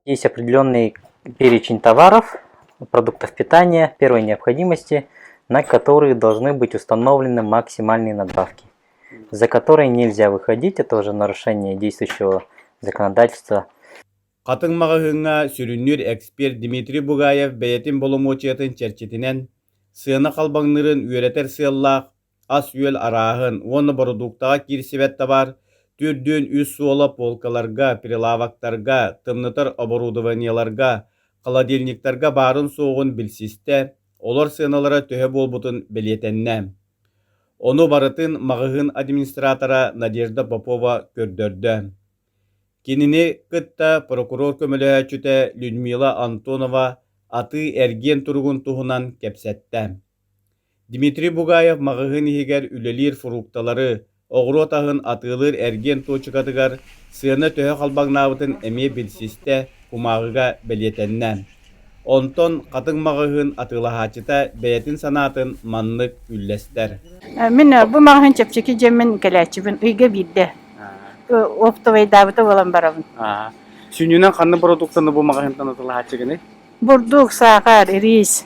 Есть определенный перечень товаров, продуктов питания первой необходимости, на которые должны быть установлены максимальные надбавки, за которые нельзя выходить. Это уже нарушение действующего законодательства. Хатын маҕаһыыҥҥа сүрүннүүр эксперт Дмитрий Бугаев бэйэтин боломуочуйатын чэрчитинэн, сыана халбаҥныырын үөрэтэр сыаллаах ас-үөл арааһын уонна бородууктаҕа киирсибэт табаар төрдүөн үс суола полкаларга, прилавоктарга, тымнытар оборудованиеларга, холодильниктарга баарын-суоҕун билсистэ, олор сыаналара төһө буолбутун бэлиэтэннэ. Ону барытын маҕаһыын администратора Надежда Попова көрдөрдө. Кинини кытта прокурор көмөлөһөөччүтэ Людмила Антонова атыы-эргиэн туругун туһунан кэпсэттэ. Дмитрий Бугаев маҕаһыын иһигэр үлэлиир фрукталары, оҕуруот аһын атыылыыр эргиэн туочукатыгар сыана төһө халбаҥнаабытын эмиэ билсистэ, кумааҕыга бэлиэтэннэ. Онтон Хатыҥ маҕаһыын атыылаһааччыта бэйэтин санаатын маннык үллэстэр: Мин бу маҕаһыын чэпчэки дьиэммин кэлээччибин ыйга биирдэ оптовайдаабыта буолан барабын. Сүнньүнэн ханна бородууктаны бу маҕаһыынтан атыылаһааччы гыный? Бурдук, саахар, рис.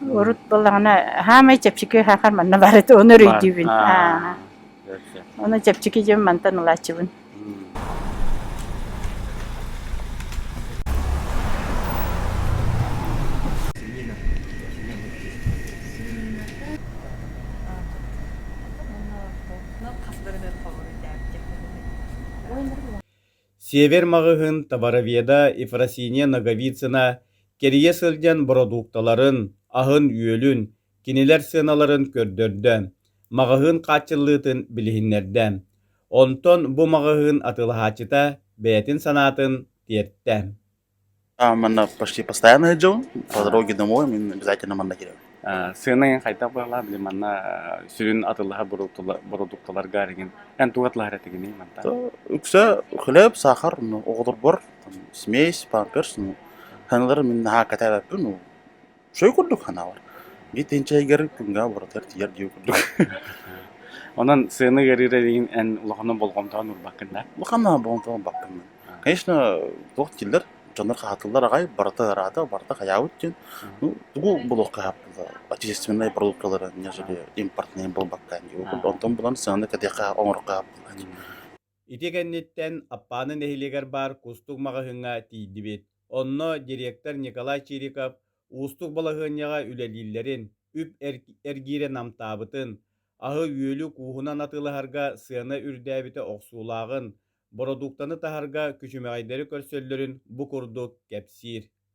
Урут буоллаҕына хаамай чэпчэки хаахар манна баар этэ ону өйдүүбүн. Аа. Ону чэпчэки дьон мантан ылааччыбын. Хас бэринэн фаворитаабитим. Север маҕаһыын Товароведа Ефросинья Ноговицына кэрийэ сылдьан бородуукталарын, аһын-үөлүн, кинилэр сыаналарын көрдөрдө, маҕаһыын хааччыллыытын билиһиннэрдэ. Онтон бу маҕаһыын атыылаһааччыта бэйэтин санаатын тиэртэ. Манна почти постоянно ездил, по дороге домой мы обязательно Маннакире. Сыанайын хайдах быһалаа били манна сүрүн атыллаһа бородуукталарга эригин эн тугатылаһар этигиний мантан? Үксэ хлеб, сахар оҕолорбор, смесь, памперс, саналары мин наһаа кэтээбэппин Сөй курдук ханаабар. Итин чэйгэр күнгэ оборатар тиер дии курдук. Онон сыаны ыарыыра илигин эн улахана болҕомтоҕун уурбаккын да? Улахана болҕомтоҕун убаппын мин. Конечно, туох дииллэр, дьоннор хаһаатыллар аҕай, барыта ыраата, барыта хайаабыт диэн. Ну, тугу булуох хаһааппыла отечественнай продукталары, нежели импортнай буолбаккаан дии курдук. Онтон булан сыаны кэтиэххэ, оҥорохха хааппыла дии. Ити кэнниттэн Аппааны нэһилиэгэр баар кустук маҕаһыыҥҥа тиийдибит. Онно директор Николай Чириков уустук балаһыанньаҕа үлэлииллэрин, үп эргиирэ намтаабытын, аһы-үөлү кууһунан атыылаһарга сыана үрдээбитэ охсуулааҕын, бородууктаны таһарга күчүмэҕэйдэри көрсөллөрүн бу курдук кэпсиир.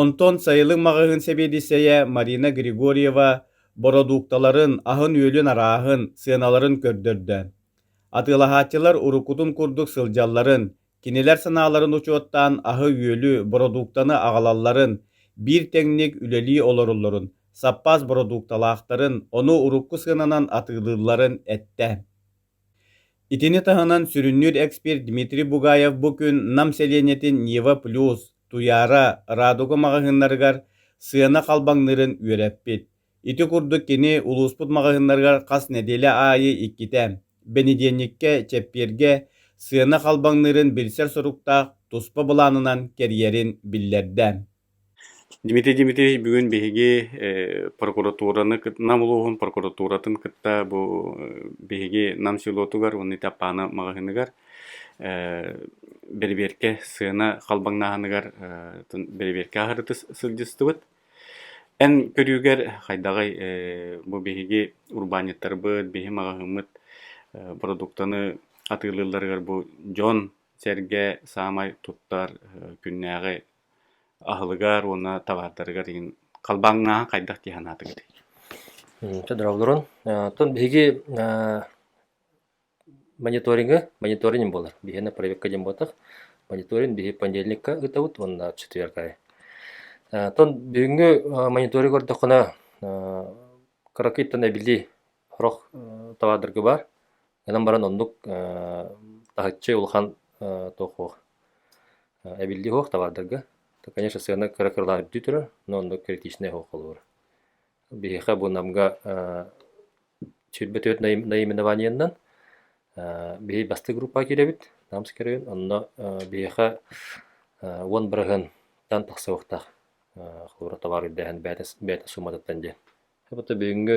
Онтон сайылык маҕаһыын сэбиэдиссэйэ Марина Григорьева бородуукталарын, аһын-үөлүн арааһын, сыаналарын көрдөрдө. Атыылаһааччылар уруккутун курдук сылдьалларын, кинилэр санааларын учуоттаан аһы-үөлү, бородууктаны аҕалалларын, биир тэҥник үлэлии олороллорун, саппаас бородуукталаахтарын, ону урукку сыананан атыылыылларын эттэ. Итини таһынан сүрүннүүр эксперт Дмитрий Бугаев бу күн Нам сэлиэнньэтин Нева плюс, Туйаара радуга маҕаһыыннарыгар сыана халбаҥныырын үөрэппит. Ити курдук кини улууспут маҕаһыыннарыгар хас нэдиэлэ аайы иккитэ, бэнидиэнньиккэ, чэппиэргэ сыана халбаҥныырын билсэр соруктаах туспа былаанынан кэрийэрин биллэрдэ. Дмитрий Дмитриевич бүгүн биһиги э прокуратураны кыт Нам улууһун прокуратуратын кытта бу биһиги Нам селотугар уонна ити Аппаана маҕаһыыныгар э бэрэбиэркэ сыана халбаҥнааһыныгар э бэрэбиэркэ аһарыта сылдьыстыбыт. Эн көрүүгэр хайдаҕый э бу биһиги урбаанньыттарбыт, биһи маҕаһыыммыт э продуктаны атыылыылларыгар бу дьон-сэргэ саамай туттар э күннээҕи аһылыгар уонна табаардарыгар иһин халбаҥнааһын хайдах дии санаатыгытый? Толороолорун оттон биһиги мониториҥы мониторинг буолар биһиэнэ проекка диэн буолбатах мониторинг биһи понедельникка ыытабыт уонна четверг аайы оттон бүгүҥҥү мониторинг көрдөххүнэ кыракыйтан эбили сорох табаардарга баар Гынан баран оннук таһыччы улахан туох-уох эбиллиэ суох табаардарга. То, конечно, сыана кыра-кыралаан үрдүү турар, но оннук критичнэй суох холурура. Биһиэхэ бу Намга сүүрбэ түөрт наименованиенан биһи бастык группаҕа киирэбит, Намс көрүөн, онно биһиэхэ уон бырыһынтан тахсыахтаах холура табаар үрдээһин бэйэтэ сууматыттан диэн. Бүгүҥҥү